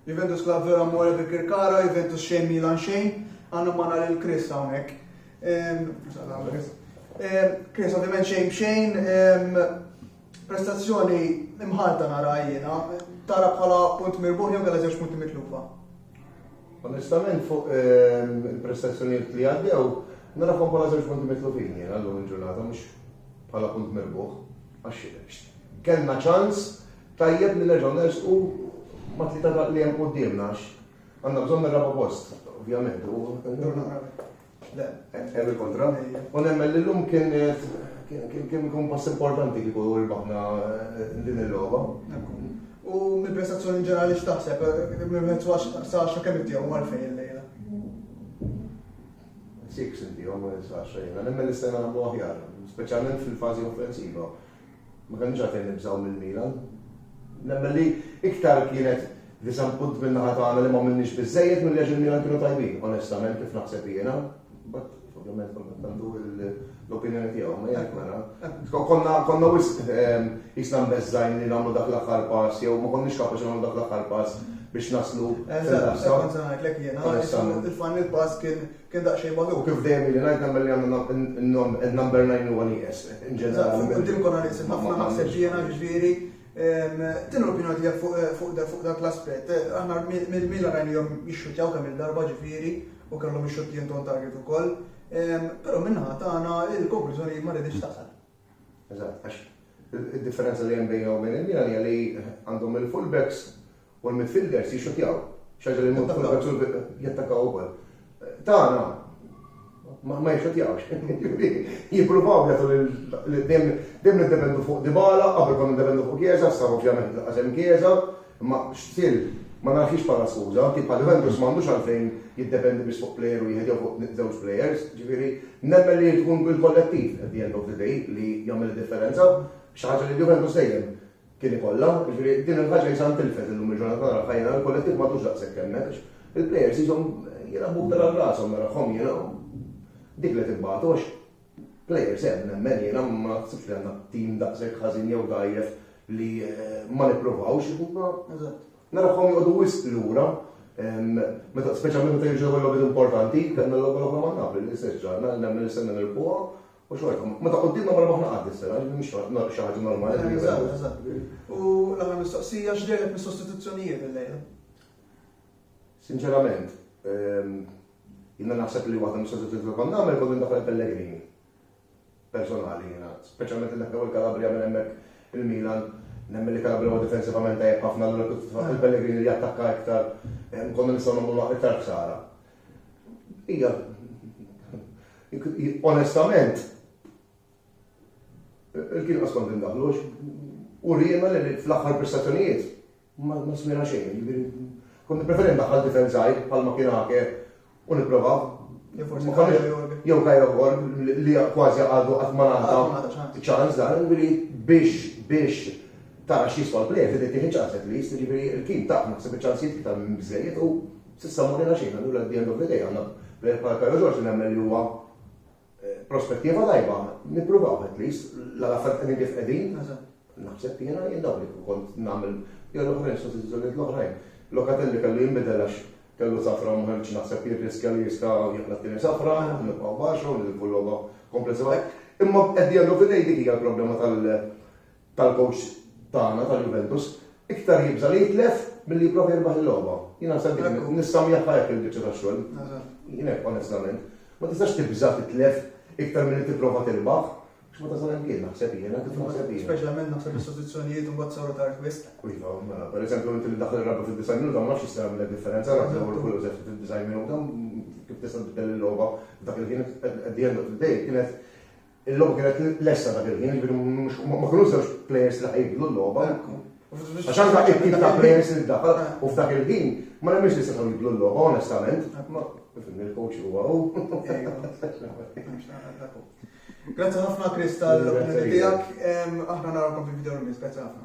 Juventus klabb veru amore per Kirkara, Juventus xejn Milan xejn, għandna magħna lil Chris hawnhekk. Chris ovvjament xejn b'xejn, prestazzjoni imħalta nara jiena, tara bħala punt mirbuħ jew kellha żewġ punti mitlufa. Onestament fuq il-prestazzjonijiet li għaddew, nara bħala żewġ punti mitlufin jiena llum il-ġurnata mhux bħala punt mirbuħ. Għax kellna ċans Tajjeb li nerġgħu nersqu mat-tlieta ta' li hemm quddiemna għax għandna bżonn ir-raba' post, ovvjament, u hemm il-kontra. U nemmen li llum kien kien ikun pass importanti kieku rbaħna din il-logħba. U mill-prestazzjoni ġenerali x'taħseb? Mezz għax sa għaxra kemm ittihom u għalfejn illejla? Six intihom, sa għaxra jiena. Nemmen li stajna nagħmlu aħjar, speċjalment fil-fażi offensiva. Ma kellniex għalfejn nibżgħu mill-Milan. Nemmen li iktar kienet disappunt minn naħa tagħna li m'għamilniex biżżejjed milli għax il-Milan kienu tajbin, onestament kif naħseb jiena. But ovvjament kont għandu l-opinjoni tiegħu, ma jgħid mela. Konna konna wisq ehm, jisna mbeżżajn li nagħmlu dak l-aħħar pass jew ma konniex kapaċi nagħmlu dak l-aħħar pass biex naslu. Eżatt, konzanajt l-ek jena, il-fan il-pass kien Kien daqsxejn magħluq, kif dejjem ili ngħid, nemmen li għandna n-number nine li huwa nieqes in ġenerali. Eżatt, qudiemkom għal iqsir ħafna naħseb jiena, jiġifieri x'inhi l-opinjoni tiegħek fuq dak l-aspett? Aħna mill-Milan rajniehom jixxuttjaw kemm-il darba ġifieri u kellhom ix-xuttijnt on target ukoll, però min-naħa tagħna l-konklużjoni ma riditx tasal. Eżatt, għax id-differenza li hemm bejna u bejn il-Milan hija li għandhom il-fullbacks u l-midfielders jixxutjaw. Xaġa li l-fullbacks jattakaw ukoll. Tagħna ma jixxutjawx. Jippruvaw jagħtu lil dejjem niddependu fuq Dybala, qabel konna niddependu fuq Chiesa, sa ovvjament laqas hemm Chiesa. Imma x'til, ma nagħtix bħala skuża, anki bħal Juventus m'għandux għalfejn jiddependi biss fuq plejer u wieħed jew fuq żewġ plejers, ġifieri nemmen li irid ikun il-kollettiv at the end of the day li jagħmel id-differenza, xi ħaġa li l-Juventus dejjem kien ikollha, ġifieri din il-ħaġa qisha ntilfet illum il-ġurnata nara f'għajnejna li l-kollettiv m'għadux daqshekk hemmhekk għax il-plejers qishom jilgħabu b'daqqa rashom narahom jiena u dik li qed ibatu għax Players hemm, nemmen jiena, ma naħsibx li għandna team daqshekk ħażin jew dgħajjef li ma nippruvawx, imma narahom joqogħdu wisq lura meta speċjalment meta jiġu l-ewwel logħbiet importanti, kellna l-ewwel oħra ma' Napoli li se ġra, nemmen li se nirpuha u xorta. Meta quddiemna mara maħna qatt is-sena, mhix xi ħaġa normali. Eżatt, eżatt. U l-aħħar mistoqsija x'dehret mis-sostituzzjonijiet illejla? Sinċerament, jiena naħseb li waħda mis-soluzzjoni li kont nagħmel kont indaħħal il-Pellegrini. Personali jiena, speċjalment indaħħal il-Kalabria minn hemmhekk il-Milan, nemmen li Kalabria huwa difensivament tajjeb ħafna l kif tfaħħal il-Pellegrini li jattakka iktar, konna nistgħu nagħmlu iktar ħsara. Hija onestament il-kien qas kont indaħħlu u rriema li fl-aħħar prestazzjonijiet Ma smajna xejn, jiġifieri kont nippreferi ndaħħal tifel żgħir bħalma kien Ake u nipprova jew Kayra Borg li kważi għadu qatt ma ngħata ċans dan, jiġifieri biex biex tara x'jiswa l-plejer trid tieħi ċans at least, jiġifieri il-kien taf naħseb iċ-ċansijiet iktar minn biżżejjed u s'issa ma urina xejn, allura at the end of the day għandna plejer bħal Kayra George li nemmen li huwa prospettiva tajba, nippruvaw at least, la l-affarijiet qegħdin kif qegħdin, naħseb jiena jien dawk li kont nagħmel jew l-oħrajn sostituzzjonijiet l-oħrajn. Locatelli kellu jinbidel għax kellu safra u ma ħarġx naħseb jirriskja li jista' jaqla' t-tieni safra, nibqgħu baxu, nilbu l-logħba komplessiva. Imma at the end of the day dik hija l-problema tal- tal-kowċ tagħna tal-Juventus, iktar jibża' li jitlef milli jipprova jirbaħ il-logħba. Jien naħseb dik nissammiħħa hekk il-biċċa tax-xogħol. Jien hekk onestament. Ma tistax tibża' titlef iktar milli tipprova tirbaħ. Biex ma tasal hemm kien naħseb jiena kif naħseb jiena. Speċjalment naħseb is-sostituzzjonijiet u mbagħad saru tard wisq. Iva, mela, pereżempju inti li daħal ir-rabba fid-design minuta ma nafx jista' jagħmel differenza naf l-ewwel kull użef fid-design minuta kif tista' tibdel il-logħba dak li kienet at the end of the day kienet Il-logħba kienet lesta dak il-ħin, jiġifieri mhux ma kinux żewġ plejers li ħajibdlu l-logħba. Għax anke it-tip ta' plejers li ddaħħal u f'dak il-ħin ma nemminx li setgħu jibdlu l-logħba onestament. Fimni l-coach huwa hu. Grazzi ħafna Chris tal-opinjoni tiegħek. Aħna narawkom fil-video release. Grazzi ħafna.